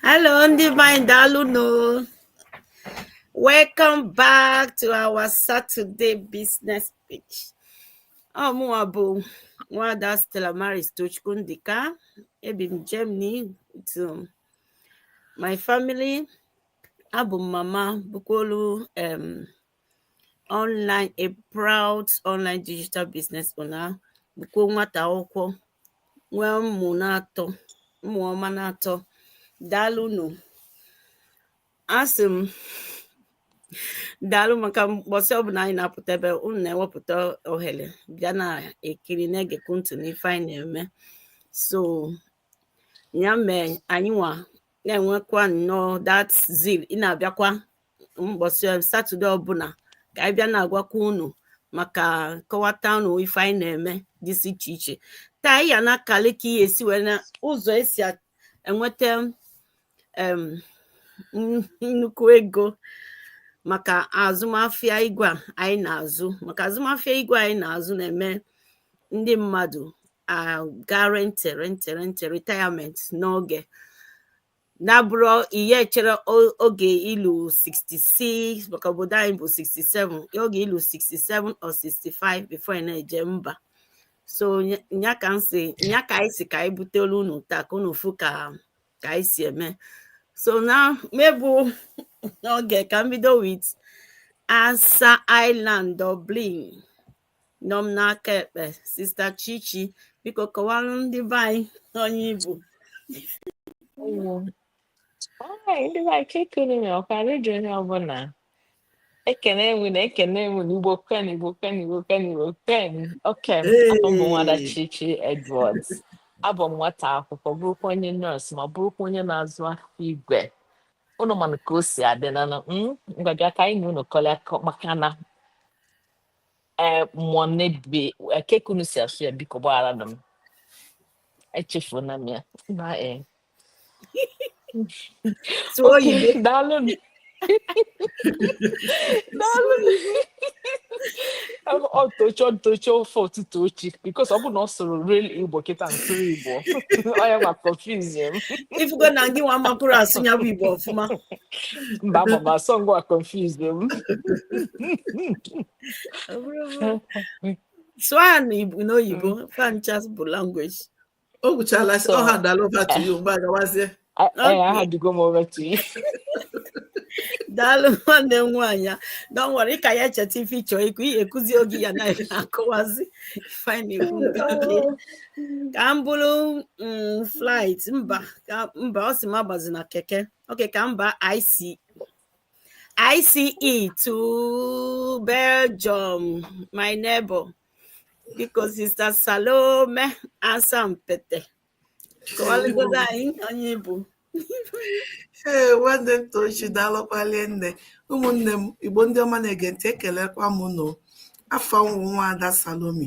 Hello, Divine Daluno. Welcome back to our Saturday business pitch. Omuabu, Wada Stella Maris Tuchkundika, Ebim Germany, to my family, abụ m mama bụkwulu um online a proud online digital business owner bụkwu nwata akwụkwọ nwee ụmụ na-atọ ụmụ ọma na-atọ daalụnụ asị m daalụ maka mbọsị ọbụla anyị na-apụta ebe unu na-ewepụta ohere bịa na-ekiri na-egekwu ntị n'ife anyị na-eme so ya mee anyị nwa na-enwekwa nnọọ that zeal ị na-abịakwa mbọsị um, satọde ọbụla ka anyị bịa na-agwakwa unu maka kọwata unu ife anyị na-eme dịsị iche iche taa ya na-akalị ka ihe esi wee na ụzọ esi enweta um, nnukwu ego maka azụmafịa igwe anyị na-azụ maka azụmafịa igwe anyị na-azụ na-eme ndị mmadụ aga rente rente rente retirement n'oge na-abụrọ ihe echere oge i lu 66 maka obodo anyị bụ 67 oge i lu 67 or 65 before ị na-eje mba so nya ka nsị nya ka anyị sị ka anyị butelu unu taa ka unu fụ ka ka anyị si eme so na m egbuna oge ka m bido with asa ireland dublin nọ m n'aka ekpe sista chichi biko kọwara ndị be anyị onye ị bụ ndị be anyị kekere na ọka redio onye ọbụla ekenee m unu ekenee m unu igbo kwenu igbo kwenu igbo kwenu igbo kwenu okay abụ m nwada chichi edwards abụ m nwata akwụkwọ bụrụkwu onye nurse ma bụrụkwu onye na-azụ afịa igwe unu manụ ka o si adị na ngwa bịa ka anyị na unu kọlịa maka na ee mmụọ na-ebi kee ka unu si asụ ya biko gbaghara na m echefuona m ya na ee tụọ oke ibe daalụ nụ. daalụ nụ. ọ tocho ntocho ofe ụtụtụ ochi because ọ bụ na ọ sụrụ real igbo kịta nsụrụ igbo ọ ya ma confuse m ị fụgo na ngị nwa amakwurọ asụ ya bụ igbo ọfụma mba ama m asụ ngwa confused m Ọ bụrụ bụrụ- sụọ ya n'Igbo- n'oyibo fa ncha bụ language o gwuchala sị So- ọha dalova to you mgbe agawazie A- Okay. eh, adaugo m over to you daalụ nwanne m nwaanyị a dọnwere ka ya echeta ife ị chọ ikwu ihe ekwuzi oge ya na-akọwazi ife ị na-ekwu nke gị. ka m buru mm, flight mba ka mba ọ sị m agbazina keke Okay, ka m baa ICE. ICE to Belgium, my neighbor. Biko Sister Salome Asampete. Kọwalụgodo anyị onye ị bụ. ee nwanne m tochi daalụkwa rinne ụmụnne m igbo ndị ọma na-ege ntị ekelekwa m unu afa m wụ nwaada Salome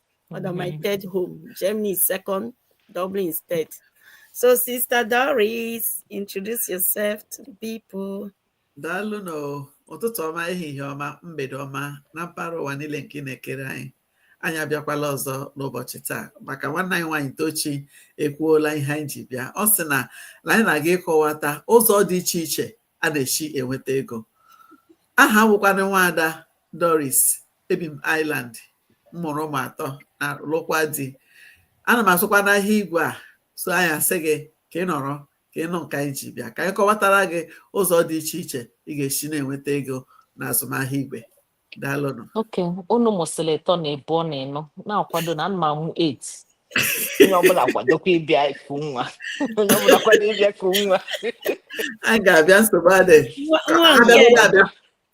Father, my third home. Germany is second. Dublin is third. So, Sister Doris, introduce yourself to the people. daalụ na ụtụtụ ọma ehihie ọma mgbede ọma na mpaghara ụwa niile nke ị na-egere anyị anyị abịakwala ọzọ n'ụbọchị taa maka nwanne anyị nwaanyị tochi ekwuola ihe anyị ji bịa ọ sị na na anyị na-aga ịkọwata ụzọ dị iche iche a na-esi enweta ego aha m wụkwanụ nwaada doris ebi m Ireland m mụrụ ụmụ atọ na lụkwa di ana m azụkwanụ ahịa igwe a so anyị asị gị ka ị nọrọ ka ị nụ nke anyị ji bịa ka anyị kọwatara gị ụzọ dị iche iche ị ga-esi na-enweta ego na azụmahịa igwe daalụnụ okay unu mụsịrị ịtọ na ịbụọ na ịnọ na-akwado na ana m amụ 8 onye ọbụla kwadokwa ịbịa iku nwa onye ọbụla kwado ịbịa iku nwa anyị ga-abịa nsogbu adịghị Nwa nwa nke abịaghị abịa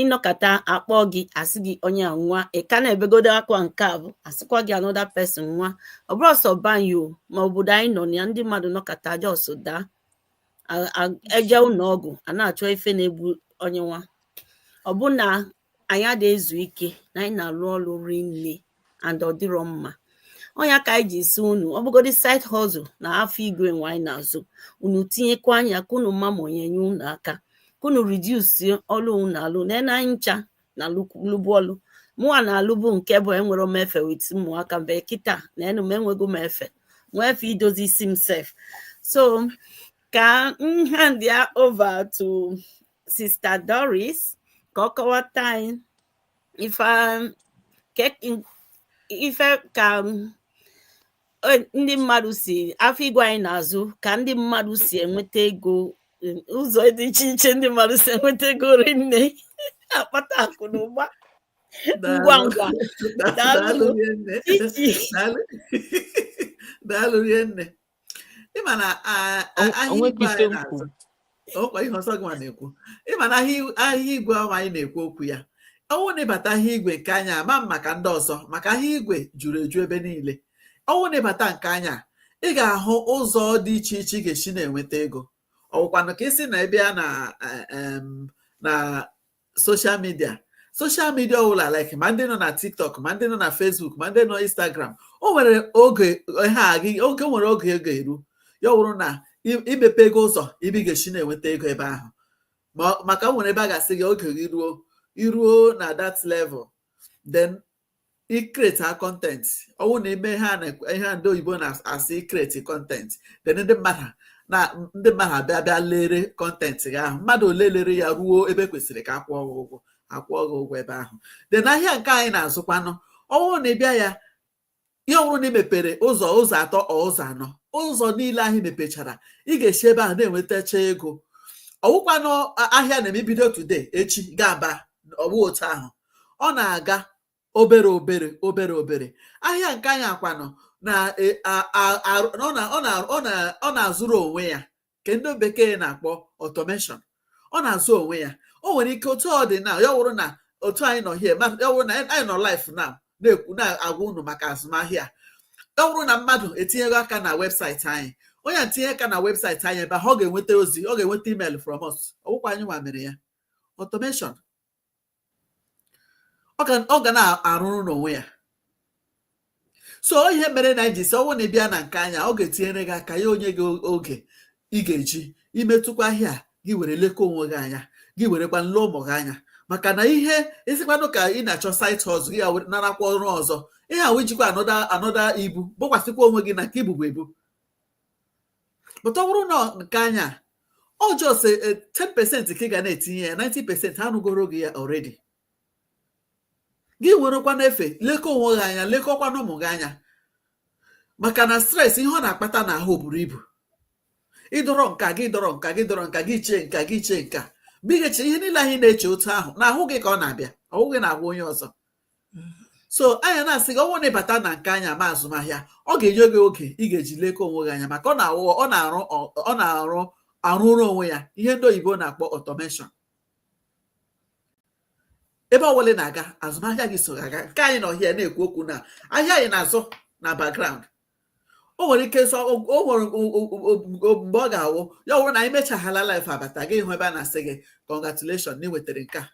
ị nọkata a kpọọ gị a sị gị onye anwụa ị ka na-ebegodo akwa nke afụ a sịkwa gị another person anwụa ọ bụrọ sọ be anyị o ma obodo anyị nọ na ya ndị mmadụ anọkata just daa e jee ụnọ ọgwụ a na-achọ ife na-egbu onye nwa ọ bụ na anyị adịghị ezu ike na anyị na-alụ ọlụ rinne and ọ dịrọ mma ọ nya ka anyị ji sị unu ọ bụgodị side hustle na afịa igwe nwa anyị na-azụ unu tinyekwa anya ka unu ma ma ọ ya-enye unu aka ka unu reduce ọlụ unu na-alụ na anyị ncha na-alụbu ọlụ mụwa na-alụbu nke bụ enwerọ m efe with ụmụaka m but kịta na enu m enwego m efe nwee efe idozi isi m sef so ka m hand ya over to sister doris ka ọ kọwata anyị ife um, ife ka um, ndị mmadụ si afịa igwe anyị na-azụ ka ndị mmadụ si enweta ego um, ụzọ dị iche iche ndị mmadụ si enweta ego rinne akpata akụ na ụba ngwa ngwa daalụ rinne ị ma na ahịa igwe anyị na-azụ ọ kwa ihe ọzọ gị na-ekwu ị ma na ahịa igwe anwa anyị na-ekwu okwu ya ọ wụ na ị bata ahịa igwe nke anyị a ama m maka ndị ọzọ maka ahịa igwe juru eju ebe niile ọ wụ na ị bata nke anyị a ị ga-ahụ ụzọ dị iche iche ị ga-esi na-enweta ego ọ wụkwanụ ka i si na ebe a na e, na social media social media ọbụla like ma ndị nọ na tiktok ma ndị nọ na facebook ma ndị nọ instagram o nwere oge o nwere oge ọ ga-eru ya wụrụ na imepego ụzọ ebe ị ga-esi na-enweta ego ebe ahụ maka o nwere ebe a ga-asị gị oge gị ruo iruo na that level then i create a content ọwụ na ime ihe ihe ndị oyibo na-asị i create content then ndị mmadụ na ndị mmadụ abịa bịa lere content gị ahụ mmadụ ole lere ya ruo ebe kwesịrị ka a kwụọ gị ụgwọ a kwụọ gị ụgwọ ebe ahụ then ahịa nke anyị na-azụkwanụ ọwụ na ịbịa ya ihe ọ bụrụ na ị mepere ụzọ ụzọ atọ ọ ụzọ anọ ụzọ niile ahụ ị mepechara ị ga-esi ebe ahụ na-enwetacha ego ọwụkwanụ ahịa na-eme ibido today echi ga-aba ọwụ otu ahụ ọ na-aga obere obere obere obere ahịa nke anyị akwanụ na e, ọ na-azụrụ onwe ya nke ndị bekee na-akpọ automation ọ na-azụ onwe ya o nwere ike otu ọ dị na ya wụrụ na otu anyị nọ here ya wụrụ na anyị nọ live now na-ekwu na-agwa unu maka azụmahịa ya wụrụ na mmadụ etinyego aka na website anyị onye tinye aka na website anyị ebe ahụ ọ ga-enweta ozi ọ ga-enweta email from us ọwụkwa anyị nwa mere ya automation ọ ga na-arụrụ n'onwe ya so ihe mere anyị ji sị ọwụ na ịbịa na nke anyị a ọ ga-etinyere gị aka ya enye gị oge ị ga-eji metụkwa ahịa gị were lekọ onwe gị anya gị werekwa lee ụmụ gị anya maka na ihe ịsịkwanụ ka ị na-achọ side hustle gị narakwa ọrụ ọzọ ihe ọwụ ijikwa another ibu bukwasịkwa onwe gị na nke i bubu ebu but ọ bụrụ na nke anyị a ọ just 10% ka ị ga na-etinye ya 90% ha rụgoro gị ya already gị werekwa n'efe lekọ onwe gị anya lekọkwa na ụmụ gị anya maka na stress ihe ọ na-akpata n'ahụ buru ibu ịdọrọ nke a gị dọrọ nke a gị dọrọ nke a gị chee nke a gị chee nke a because ihe niile anyị na-eche otu ahụ n'ahụ gị ka ọ na-abịa ọwụghị n'ahụ onye ọzọ so anyị na-asị gị ọwụ na ịbata na nke anyị a ma azụmahịa ọ ga-enye gị oge ị ga-eji lekọ onwe gị anya maka ọ na-arụ ọ na-arụrụ onwe ya ihe ndị oyibo na-akpọ automation ebe ọwụla ị na-aga azụmahịa gị so aga nke anyị nọ here na-ekwu okwu na ahịa anyị na-azụ na background o nwere ike sọ o nwere mgbe ọ ga-awụ ya wụrụ na anyị mechaghala live abata gị hụ ebe a na-asị gị congratulation na ị nwetara nke a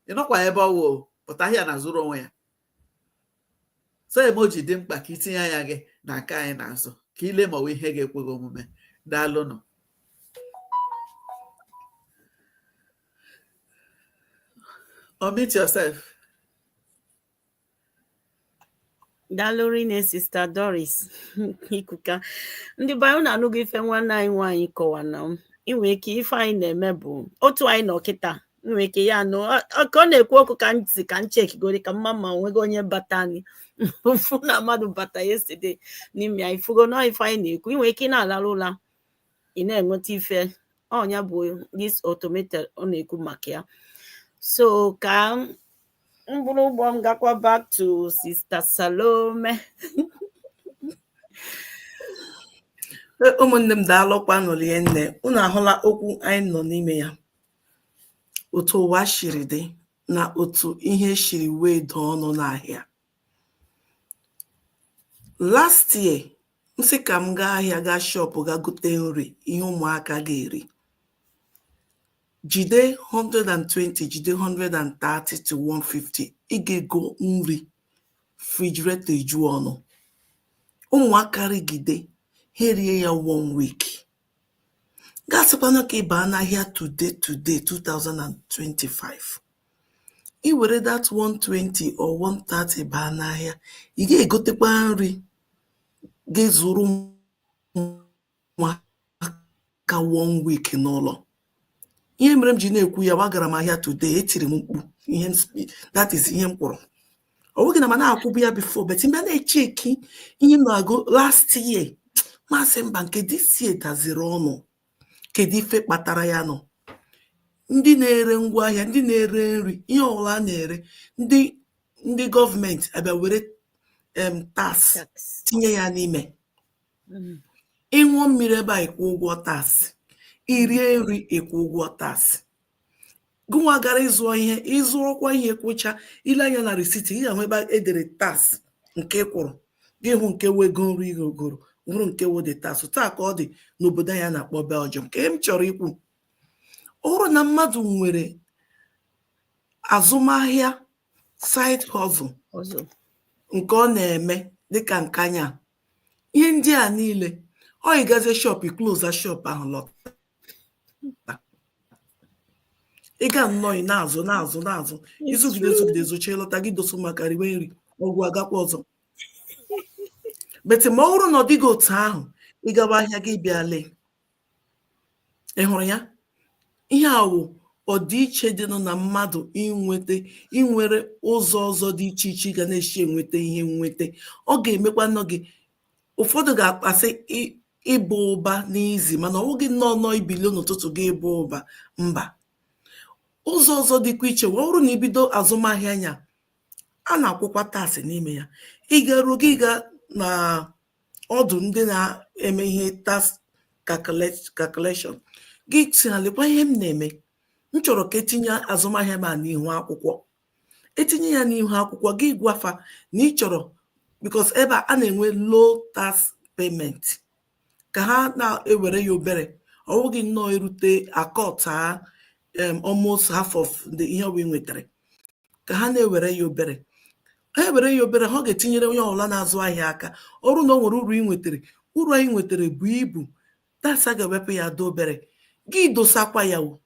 ị nọkwa ebe ọwụ but ahịa na-azụrụ onwe ya so ebe o ji dị mkpa ka itinye anya gị na nke anyị na-azụ ka ile ma ọ bụ ihe ga-ekwe gị omume daalụnụ unmute yourself daalụ rinne sista doris ikuka ndị be anyị unu anụgo ife nwanne anyị nwaanyị kọwa na i nwe ike ife anyị na-eme bụ otu anyị nọ kịta i nwe ike ya anụ ọ- ọ- ka ọ na-ekwu okwu ka m sị ka m chekigodi ka m ma ma o nwego onye bata anyị fụ na mmadụ bata yesterday n'ime ya ị fụgo na ife anyị na-ekwu i nwe ike ị na-alarụ ụla ị na-enweta ife ọ nya bụ this automated ọ na-ekwu maka ya so ka m buru ụgbọ m gakwa back to Sister Salome e, ụmụnne m daalụkwanụ rinne unu ahụla okwu anyị nọ n'ime ya otu ụwa shiri dị na otu ihe shiri wee daa ọnụ n'ahịa last year m sị ka m gaa ahịa gaa shop gaa gote nri ihe ụmụaka ga-eri jide 120 jide 130 to 150 ị ga-ego nri refrigerator eju ọnụ ụmụaka rigide ha erie ya one week Gị asịkwanụ ka ị baa n'ahịa today today 2025 i were that 120 or 130 baa n'ahịa ị ga-egotekwa nri ga-ezuru ụmụaka one week n'ụlọ ihe mere m ji na-ekwu ya gbagara m ahịa today etiri m mkpu ihe that is ihe m kwụrụ ọ bụghị na ma na-akwụbu ya before but mgbe m na-echeki ihe m na-ego last year m asị mba nke this year daziri ọnụ kedu ife kpatara ya nụ ndị na-ere ngwa ahịa ndị na-ere nri ihe ọbụla a na-ere ndị ndị gọọmenti abịa were em tax tinye ya n'ime ị ṅụọ mmiri ebe a ị kwụọ ụgwọ tax, i rie nri ị kwụọ ụgwọ tax. Gụnwa gara ịzụọ ihe, ị zụọkwa ihe kwụcha, i lee anya na receipt ị ga-ahụ ebe e dere tax nke ị kwụrụ, gị ahụ nke wụ ego nri i goro, hụrụ nke wụ the tax. Otu a ka ọ dị n'obodo anyị a na-akpọ Belgium. Nke m chọrọ ikwu, ọ bụrụ na mmadụ nwere azụmahịa side hustle nke ọ na-eme dịka nke anyị a ihe ndị a niile ọ ị gazie shop i kloza shop ahụ lọta ị gaa nnọọ ị na-azụ na-azụ na-azụ ị zụgide zụgide zụchaa lọta gị dosa ụmụaka riwe nri ọ gwụ a gakwa ọzọ but ma ọ bụrụ na ọ dịghị otu ahụ ị gawa ahịa gị bịa lee ị hụrụ ya ihe a wụ ọdịiche dịnụ na mmadụ inweta i nwere ụzọ ọzọ dị iche iche ị ga na-esi enweta ihe nweta ọ ga-emekwa nọ gị ụfọdụ ga-akpasị ịbụ ụba n'izi mana ọ wụghị nnọọ nọọ ibili n'ụtụtụ gị ịbụ ụba mba ụzọ ọzọ dịkwa iche wee bụrụ na i bido azụmahịa anya a na-akwụkwa tax n'ime ya ị garuo gị ga na ọdụ ndị na-eme ihe tax calculation gị sị ha lekwa ihe m na-eme m chọrọ ka e tinye azụmahịa m a n'ihu akwụkwọ e tinye ya n'ihu akwụkwọ gị gwa fa na ị chọrọ because ebe a na-enwe low tax payment ka ha na-ewere ya obere ọ wụghị nnọọ erute a quarter um almost half of the ihe ọbụla ị nwetara ka ha na-ewere ya obere ha ewere ya obere ọ ga-etinyere onye ọbụla na-azụ ahịa aka ọ bụrụ na o nwere uru ị nwetara uru anyị nwetara buo ibu tax a ga-ewepụ ya adị obere gị dosakwa ya o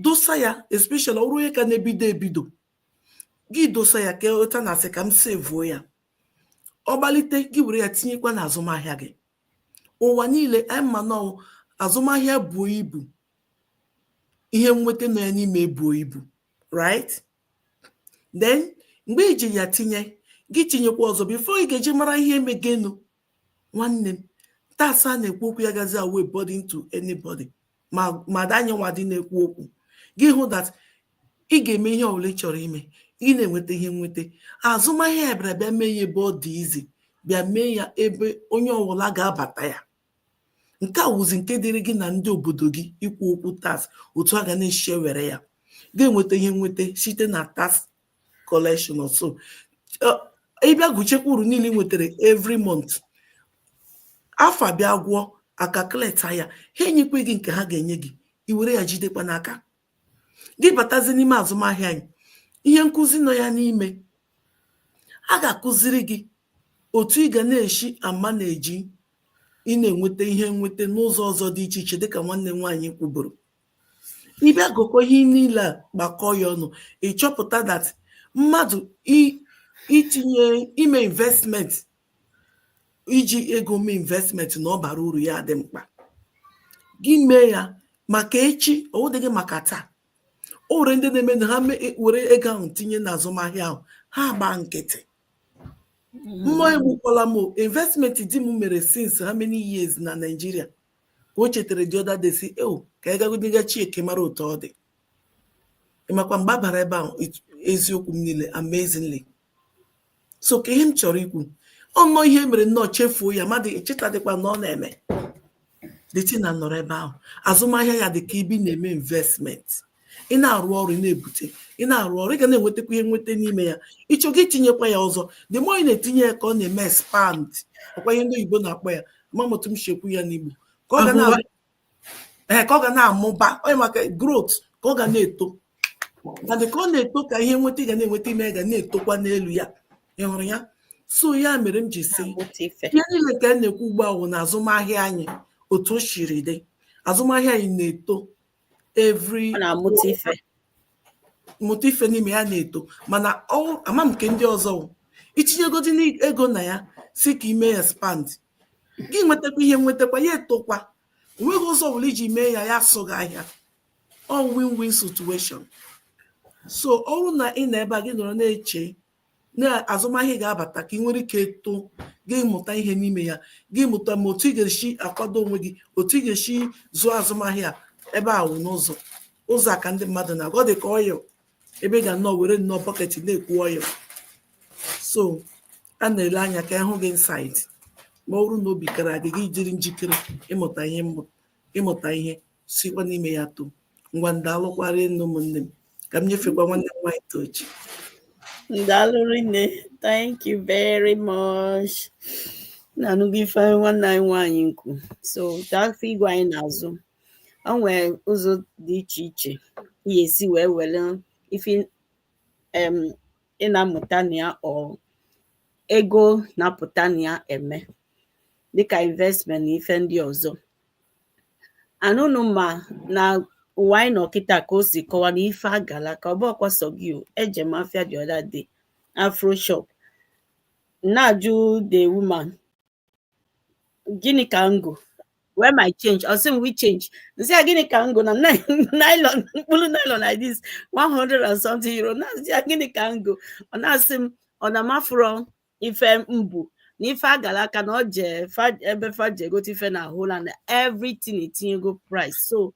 dosa ya especially ọ bụrụ onye ka na-ebido ebido gị dosa ya ka ụta na a sị ka m sevuo ya ọ gbalite gị were ya tinyekwa na azụmahịa gị ụwa niile anyị ma na azụmahịa buo ibu ihe nweta nọ ya n'ime ebuo ibu right then mgbe i ji ya tinye gị tinyekwa ọzọ before ị ga-eji mara ihe emegenu nwanne m tax a na-ekwu okwu ya gazi awụ burden to anybody ma ma danye nwa dị na-ekwu okwu gị hụ that ị ga-eme ihe ọbụla ị chọrọ ime ị na-enweta ihe nweta azụmahịa ya bịara bịa mee ya ebe ọ dị easy bịa mee ya ebe onye ọbụla ga-abata ya nke a wụzi nke dịrị gị na ndị obodo gị ikwu okwu tax otu a ga na-esi ewere ya ga-enweta ihe nweta site na tax collection or so ị bịa gụchekwa uru niile ị nwetara every month afọ bịa gwụọ a calculate ya ha enyekwa gị nke ha ga-enye gị i were ya jidekwa n'aka gị batazi n'ime azụmahịa anyị ihe nkụzi nọ ya n'ime a ga-akụziri gị otu ị ga na-esi ama na-eji ị na-enweta ihe nweta n'ụzọ ọzọ dị iche iche dịka nwanne m nwaanyị kwuburu ị bịa gụkọ ihe niile a gbakọọ ya ọnụ ị chọpụta that mmadụ itinye ime investment iji ego mee investment na ọ bara uru ya adị mkpa gị mee ya maka echi ọ wụdịghị maka taa o nwere ndị na-eme na ha ewere ego ahụ tinye na azụmahịa ahụ ha gbaa nkịtị mmụọ mm. egbukwala m investment di m mere since how many years na Nigeria ka o chetara the other day sị eo ka anyị gagodi ga checkie mara otu ọ dị ị makwa mgbe a bara ebe ahụ eziokwu m niile amazingly so ka ihe m chọrọ ikwu ọnọ ihe mere nnọọ chefuo ya mmadụ echetadịkwa na ọ na-eme dịtị na nọrọ ebe ahụ azụmahịa ya dị ka ebe ị na-eme investment ị na-arụ ọrụ ị na-ebute ị na-arụ ọrụ ị ga na-enwetakwa ihe nweta n'ime ya ị chọọ gị itinyekwa ya ọzọ the more ị na-etinye ya ka ọ na-eme expand ọkwa ihe ndị oyibo na-akpọ ya ama m otu m ji ekwu ya n'igbo ka ọ ga na ee ka ọ ga na-amụba onye maka growth ka ọ ga na-eto na dị ka ọ na-eto ka ihe nweta ị ga na-enweta ime ga na-etokwa n'elu ya ị hụrụ ya so ya mere m ji sị ihe niile ka a na-ekwu ugbu ahụ na azụmahịa anyị otu o siri dị azụmahịa anyị na-eto every mụta ife n'ime ya na-eto mana ama m nke ndị ọzọ itinyegodi ego na ya sị ka ime expand gị nwetakwa ihe nwetakwa ya etokwa onweghị ụzọ ọbụla iji mee ya ya asụ gị ahịa ọ win-win situation so ọ bụrụ na ị nọ ebe a gị nọrọ na-eche na azụmahịa ga-abata ka ị nwere ike eto gị mụta ihe n'ime ya gị mụta ma otu ị ga-esi akwado onwe gị otu ị ga-esi zụọ azụmahịa ebe ọ wụ n'ụzọ ụzọ a ka ndị mmadụ na-agụ ọ dị ka oil ebe ị ga nnọọ were nnọọ bucket na-eku oil so a na-ele anya ka a hụ gị inside ma ọ bụrụ na obi kara gị gị jiri njikere ịmụta ihe ịmụta ihe sikwa n'ime ya too ngwa ndalụkwa rinne ụmụnne m ka m nyefekwa nwanne m nwaanyị tochi ndalụ rinne thank you very much unu anụgo ife nwanne anyị nwaanyị kwu so gaa afọ igwe anyị n'azụ o nwere ụzọ dị iche iche ị ga-esi wee were ife em ị na-amụta na ya or ego na-apụta na ya eme dịka investment na ife ndị ọzọ and unu ma na ụwa anyị nọ kịta ka o si kọwa na ife agala ka ọ bụrọkwa sọ gị o eje m afịa the other day afro shop na-ajụ the woman gịnị ka m go where my change ọ sị m which change m sị ya gịnị ka m go na nylon mkpụrụ nylon like this 100 and something euro na-asị ya gịnị ka m go ọ na-asị m ọ na m afụrọ ife m bu na ife agara aka na ọ je ebe fa je egote ife na holland everything etinyego price so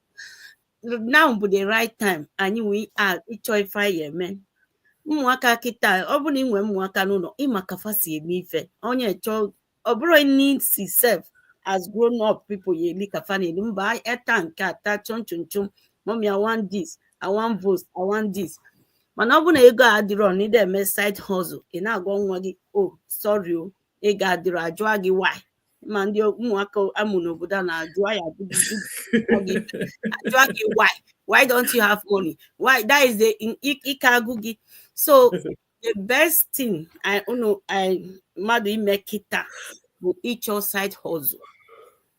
now bụ the right time anyị nwee ịchọ ife anyị eme ụmụaka kịta ọ bụrụ na ị nwee ụmụaka n'ụlọ ị ma ka fa si eme ife onye chọọ ọ bụrụ need si sef as grown up people ya eli ka fa na-eli mba eta nke ata chọm chọm chọm mummy i want this i want vote i want this mana ọ bụrụ na ego a adịrọ na ị da eme side hustle ị na-agwa nwa gị o sorry o ego adịrọ ajụọ gị why ma ndị ụmụaka a mụ n'obodo a na-ajụ ya ajụa gị why why don't you have money why that is the ike agwụ gị so the best thing I unu I mmadụ ime kịta bụ ịchọ side hustle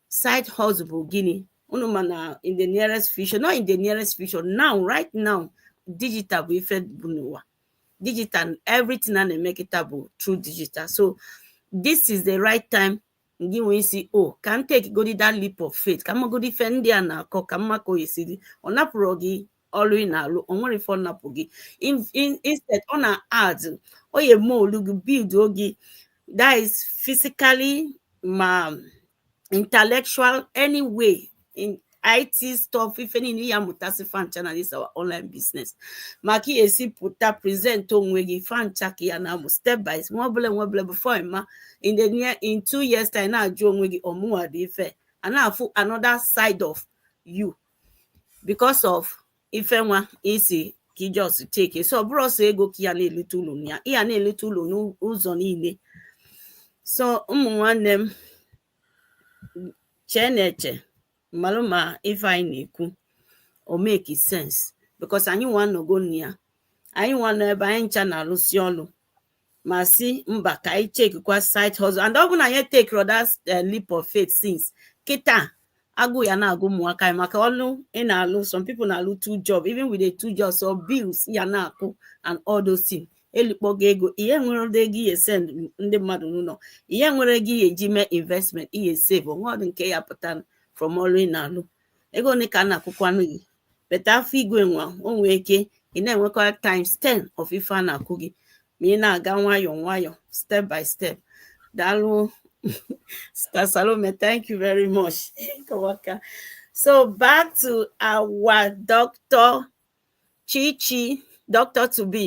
side hustle bụ gịnị unu ma na in the nearest future not in the nearest future now right now digital bụ ife bụ n'ụwa digital everything a na-eme kịta bụ through digital so this is the right time gị wee sị o oh, ka m take godi that leap of faith ka m magodi ife ndị a na-akọ ka m ma ka o si dị ọ napụrọ gị ọlụ ị na-alụ o nwerọ ife ọ napụ gị instead ọ na-add ọ ya emould gị buildụọ gị that is physically ma intellectual anyway in IT stuff ife niile ị ya-amụtasị fa ncha na this our online business ma ka ị ya-esi pụta present onwe gị fa ncha ka ị ya na-amụ step by step nwa obele nwa obele before ị ma in the near in two years time na-ajụ onwe gị ọ mụwa dị ife a na-afụ another side of you because of ife nwa ị sị ka ị just take so ọ bụrọ sọ ego ka ị ya na-elite ulu na ya ị ya na-elite ulu n'ụzọ niile so ụmụ nwanne m cheenụ eche malụ ma ife anyị na-ekwu o make sense because anyị nwa nọgo na ya anyị nwa nọ ebe anyị ncha na-alụsi ọlụ ma sị mba ka anyị checkikwa side hustle and ọ bụ na anyị etakerọ that eh, leap of faith since kịta agụụ ya na-agụ ụmụaka anyị maka ọlụ ị na-alụ some people na-alụ two job even with the two jobs or bills ị ya na-akwụ and all those things elikpọ gị ego i nwere ego ị ya-esend ndị mmadụ n'ụnọ i nwere ego ị ya-eji mee investment ị ya-esave o nwe ọdụ nke ya-apụta from ọlụ ị na-alụ ego ole ka a na-akwụkwanụ gị but afịa igwe nwa o nwee ike ị na-enwekwa times 10 of ife a na-akwụ gị ma ị na-aga nwayọọ nwayọọ step by step daalụ sister Salome thank you very much kụọ aka so back to our doctor Chichi doctor to be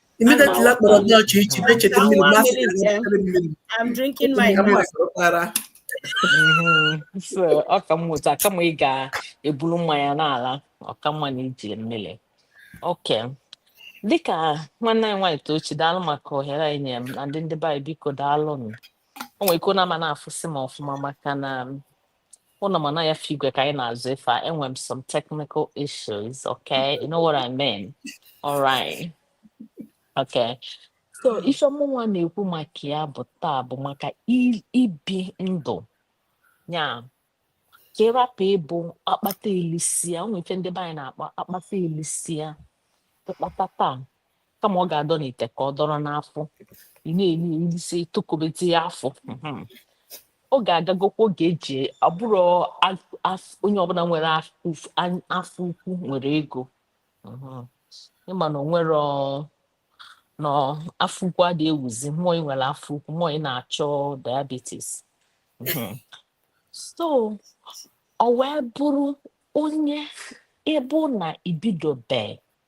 immediately a kpọrọ Doc Chichi na-echeta mmiri ma asị gị na o butere mmiri I'm drinking my ka mma sọrọtara Mhm. So, ọ ka mma otu a kama ị ga-eburu mmanya na-ala ọ ka mma na i ji mmiri okay dịka nwanne anyị nwaanyị tochi daalụ maka ohere e nyere m na ndị ndị be anyị biko daalụ nụ o nwere ike na ama na-afụsị m ọfụma maka na Unu ma na afịa igwe ka anyị na-azụ, if enwe m some technical issues. Okay, you know what I mean. All right. Okay. So ife mụnwa na-ekwu maka ya bụ taa bụ maka i- ibi ndụ ya ka ịrapụ ịbụ akpata elisia o nwe ife ndị be anyị na-akpọ akpata elisia ịkpata taa kama ọ ga-adọ n'ite ka ọ dọrọ n'afọ ị na-eri erisi tokobezi ya afọ Mhm. oge agagokwa oge eji abụrụ onye ọbụla nwere af- uf- an- afọ ukwu nwere ego Mhm. ịma na o nwere ọ- na afọ ukwu adịghị ewuzi mmụọ ị nwere afọ ukwu mmụọ ị na-achọ diabetes Mhm. so ọ wee bụrụ onye ịbụ na ibidobe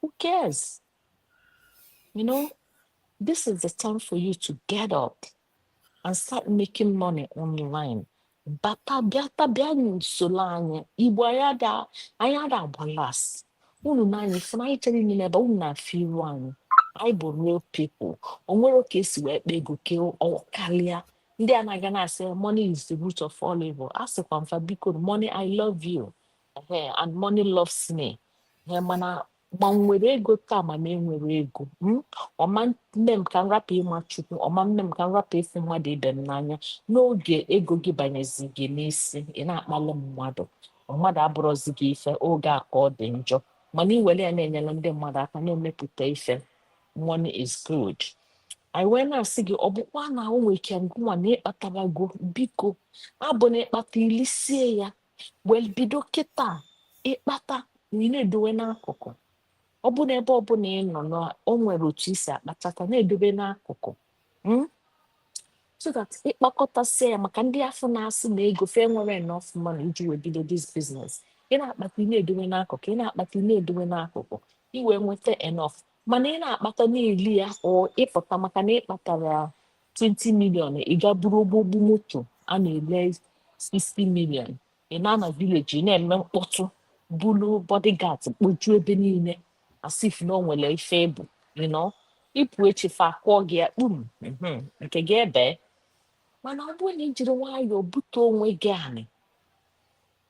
Who cares? You know, this is the time for you to get up and start making money online. Bata bịa bịa n'usoro anyị igbo anyị ada anyị ada agba last unu na anyị fụna anyị chere n'ime ebe unu na-afụ iru anyị anyị bụ real people o nwerọ ka esi wee kpa ego ka ọ karịa ndị a na-aga na-asị money is the root of all evil a sịkwa m fa biko money i love you Ehe, and money loves me. Ehe, mana ma m nwere ego taa ma m enwerọ ego ọ ma-eme m ka m rapụ ịma chukwu ọ ma-eme m ka m rapụ ịfụ mmadụ ibe m n'anya n'oge ego gị banyezi gị n'isi ị na-akpalụ mmadụ mmadụ abụrọzi gị ife oge a ka ọ dị njọ mana i were ya na-enyere ndị mmadụ aka na-emepụta ife money is good anyị wee na-asị gị ọ bụkwa na o nwere ike ngụnwa na ịkpatabago biko abụna ịkpata ilisie ya wee bido kịta ịkpata na ị na-edowe n'akụkụ ọ bụ na ebe ọbụla ị nọ na o nwere otu ị si akpatata na-edobe n'akụkụ hmm? so that ịkpakọtasị ya maka ndị afụ na-asị na ego fa enwerọ enough money iji wee bido this business ị na-akpata ị na-edowe n'akụkụ ị na-akpata ị na-edowe n'akụkụ i wee nweta enough mana ị na-akpata na-eli ya or ịpụta maka na ịkpatara 20 million ị ga buru ogbogbu moto a na-ele 60 million ị na-ana village na-eme mkpọtụ bulu bodyguard kpojuo ebe niile as if na o nwere ife ịbụ you know ịpụ echi fa akụọ gị ya kpum mhm, nke gị ebee mana ọ bụrụ na i jiri nwayọọ bute onwe gị anị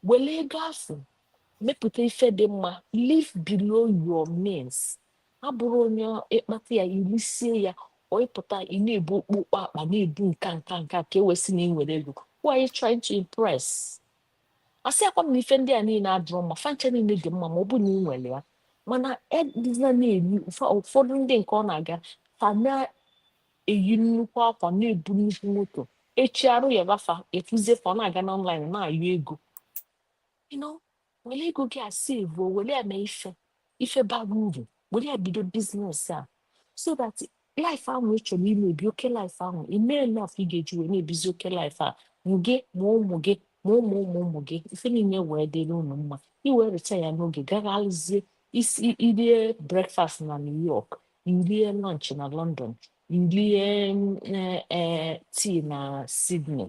were ego afụ mepụta ife dị mma live below your means a bụrụ onye ịkpata ya irisie ya or ịpụta ị na-ebu okpokpo akpa na-ebu nka nka nka ka e wee sị na ị nwere ego who are you trying to impress asịrọkwa m na ife ndị a niile adịrọ mma fa ncha niile dị mma ma ọ bụ na ị nwere ya mana edịna na-eri ụfọdụ ndị nke ọ na-aga ha na-eyi nnukwu akwa na-ebu nnukwu moto echi arụ yaba fa ị fụzie fa ọ na-aga n'online na-ayọ ego were ego gị a sevuo were ya mee ife ife bara uru were ya bido biznes a so that life ahụ ị chọrọ ime ebi oke life ahụ ị mee enough ị ga-eji wee na-ebizi oke life a gị ma ụmụ gị ma ụmụ ụmụ ụmụ gị ife niile wee dịrị unu mma ị wee retire n'oge gagharịzie isi i rie breakfast na new york i rie lunch na london i rie mm, eh, eh, tii na sydney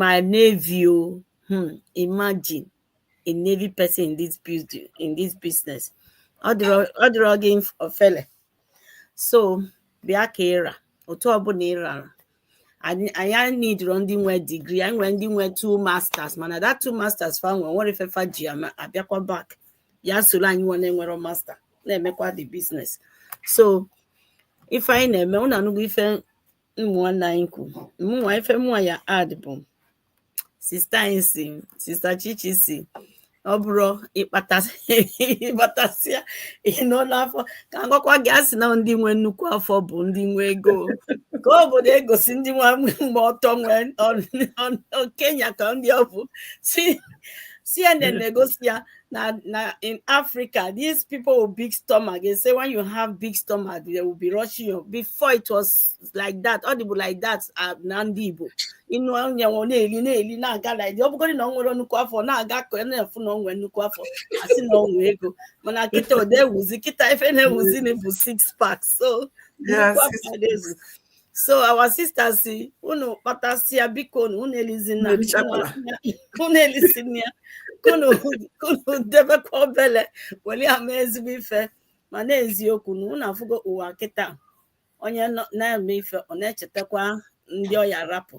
my navy oh hmm, imagine a navy person in this business in this business ọ dịrọ gị ofele so bịa ka ị ra otu ọbụla ị rara anyị nidiro ndị nwe digri anyị nwere ndị nwe two masters mana that two masters fa nwe nwere ife fa ji abịakwa back bịa soro anyịnwa na-enwerọ master na-emekwa the business so ife anyị na-eme unu anụgo ife ụmụnne anyị kwu mụnwa ife mụnwa ya-add bụ sista anyị sị sista chichi sị ọ bụrụ ị kpatasịa i noo n'afọ ka m gwakwa gị a sị na ndị nwe nnukwu afọ bụ ndị nwe ego ka obodo egosi ndị nwa gba ọtọ na kenya ka ndị ọ bụ cnn na-egosi ya Now, now in Africa, these people with big stomach, they say when you have big stomach, they will be rushing you. Before it was like that, ọ dịbu like that na ndị Igbo. You know, onye nwe na-eli na-eli na-aga like ọ bụgodị na o nwere nnukwu afọ na-aga ka a fụ na o nwere nnukwu afọ a sị na o nwere ego mana kịta ọ da-ewuzi kịta ife na-ewuzi now bụ six pack so Yes, nnukwu afọ na-ezu so our sister sị unu kpatasịa bikonu unu elizina unu elizina ya ka unu ka unu debekwa obele welu ya mee ezigbo ife mana eziokwu na unu afụgo ụwa kịta onye na-eme ife ọ na-echetakwa ndị ọ ya-arapụ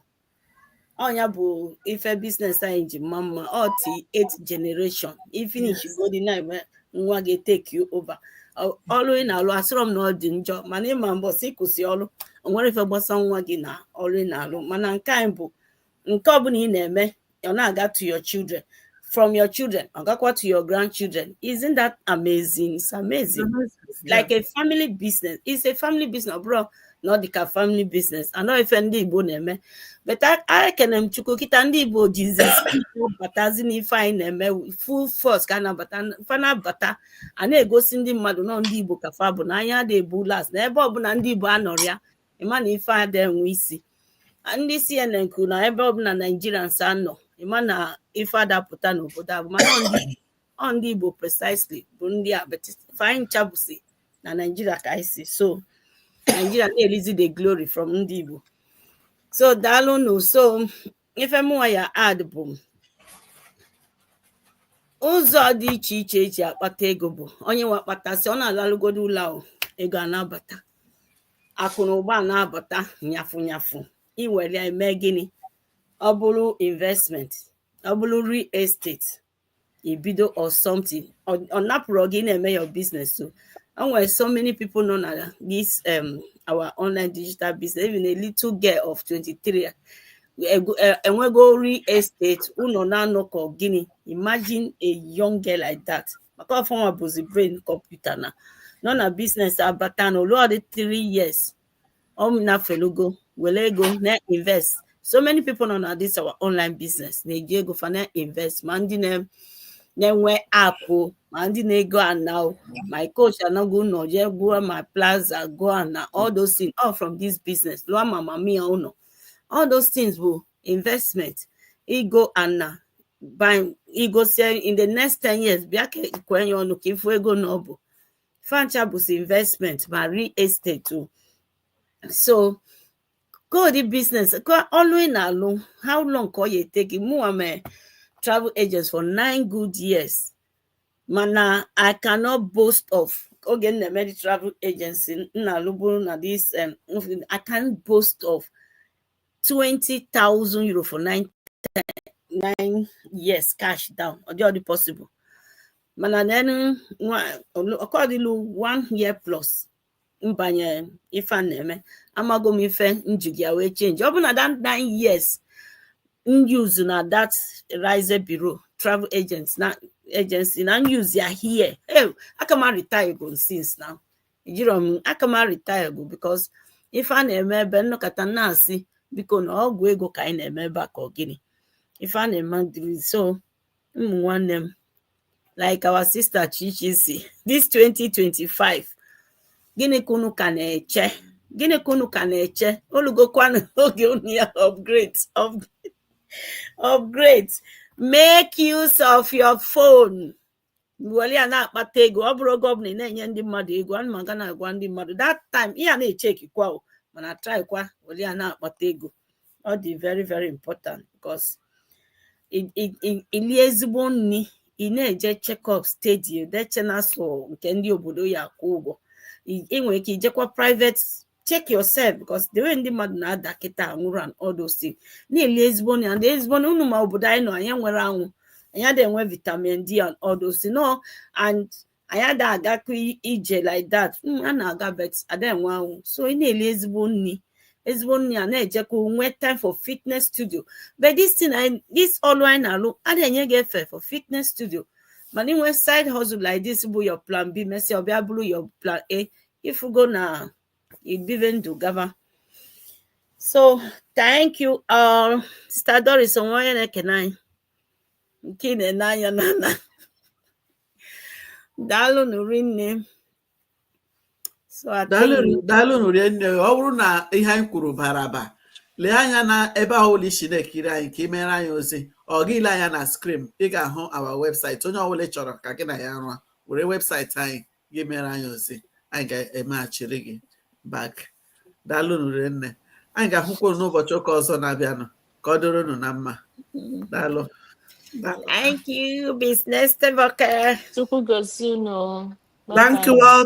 ọ nya bụ ife biznes anyị ji maa mma ọ till eight generation ị finish godi na-eme nwa gị take ya over Ọ- ọlụ ị na-alụ asịrọ m na ọ dị njọ mana ị ma mbọsị ị kwụsị ọlụ o nwerọ ife gbasa nwa gị na ọlụ ị na-alụ mana nke anyị bụ nke ọbụla ị na-eme ọ na-aga to your children from your children, ọ gakwa to your grandchildren. Isn't that amazing? It's amazing. Mm -hmm. Like yeah. a family business. It's a family business, ọ bụrọ na ọ dịka family business. And ọ ife ndị Igbo na-eme, but ekene m Chukwu kịta ndị Igbo jizi batazi n'ife anyị na-eme full force ka a na-abata fa na-abata. A na-egosi ndị mmadụ na ọ ndị Igbo ka fa bụ na anyị ada ebu last na ebe ọbụla ndị Igbo anọrọ ya ị ma na ife ada enwe isi ndị CNN kwuru na ebe ọbụla Naijirians anọ ị ma na ife ada apụta n'obodo afụ mana ọ ndị Igbo precisely bụ ndị a but anyị ncha bụsi na Naijiria ka anyị si so Naijiria na-elizi the glory from ndị Igbo so daalụ nụ so ife mụnwa ya add bụ ụzọ dị iche iche eji akpata ego bụ onye nwe akpatasị ọ na-alalụgodo ụla ego a na-abata akụ na ụba na-abata nyafụ nyafụ i were ya eme gịnị ọ bụrụ investment ọ bụrụ real estate ibido or something ọ napụrọ gị na-eme your business so enwere so many people nọ na this um, our online digital business even a little girl of 23 enwego real estate ụnọ na ana ka gịnị imagine a young girl like that maka ọ fanwa bụzi brain computer na nọ na business a bata na olu ọdị 3 years ọ nafelugo were ego na invest so many people nọ na this our online business na-eji ego fa na invest ma ndị na- na-enwe apụ ma ndị na-ego ana o. my coach anago ụnọ jee goo ma plaza goo ana all those things all from this business lụọ ma mama ya ụnọ all those things bụ investment igo ana by i gosie in the next 10 years bịa ka e kwenye ọnụ ka ị fụ ego one ọ bụ fa ncha bụsi investment ma real estate o so kedu business ka ọlụ ị na-alụ how long ka ọ ya-e take gị mụnwa mee travel agent for nine good years mana i cannot boast of oge m na-eme the travel agency m na-alụ bụrụ na this um, i can boast of 20,000 euro for nine nine years cash down ọ dị ọ dị possible mana then ọ ka dịlụ one year plus m banye ife a na-eme amago m ife m jigo ya wee change ọ bụ na that nine years m use na that Reisebüro travel agents na agency na m use ya here hey, aka m retire go since now ejiro m aka m retire go because ife a na-eme ebe a m nọkata na-asị biko na ọgwụ ego ka anyị na-eme ebe a ka ọ gịnị ife a na-eme dịrị so ụmụ nwanne m like our sister Chichi sị this 2025 gịnị ka unu ka na-eche gịnị ka unu ka na-eche o lugokwanụ oge unu ya upgrade upgrade make use of your phone were ya na-akpata ego ọ bụrọ oge ọbụna ị na-enye ndị mmadụ ego ana m aga na-agwa ndị mmadụ that time ị ya na-echeki kwa o mana try kwa were ya na-akpata ego ọ dị very very important because i- i- i- i lie ezigbo nri ị na-eje checkup steady i chee na sọ nke ndị obodo ya akwụ ụgwọ I- ị nwere ike ijekwa private check yourself because the way ndị mmadụ na-ada kịta anwụrụ and all those things na-eli ezigbo nri and ezigbo nri unu ma obodo anyị nọ anyị enwerọ anwụ anyị adịghị enwe vitamin d and all those things no and anyị adịghị agakọ i- ije like that Mm, a na-aga but adịghị enwe anwụ so ị na-eli ezigbo nri ezigbo nri a na-ejekọ nwee time for fitness studio but this thing anyị- this ọlụ anyị na-alụ a na-enye gị efe for fitness studio mana ị nwee side hustle like this bụ your plan b mesịa ọ bịa bụrụ your plan a ị fụgo na i bibe ndụ gaba so thank you all sister doris o nwe onye na-ekene anyị nke ị na-ene anya na na daalụnụ rinne so daalụnụ rinne ọ bụrụ na ihe anyị kwuru bara aba lee anya na ebe ọbụla i si na-ekiri anyị ka ị mere anyị ozi ọ gị lee anya na screen ị ga-ahụ our website onye ọbụla chọrọ ka gị na ya rụọ were website anyị gị mere anyị ozi anyị ga-emeghachiri gị back daalụnụ rinne anyị ga-ahụkwa unu n'ụbọchị ụka ọzọ na-abịanụ ka ọ dịrị unu na mma daalụ Thank you, business Thank you all.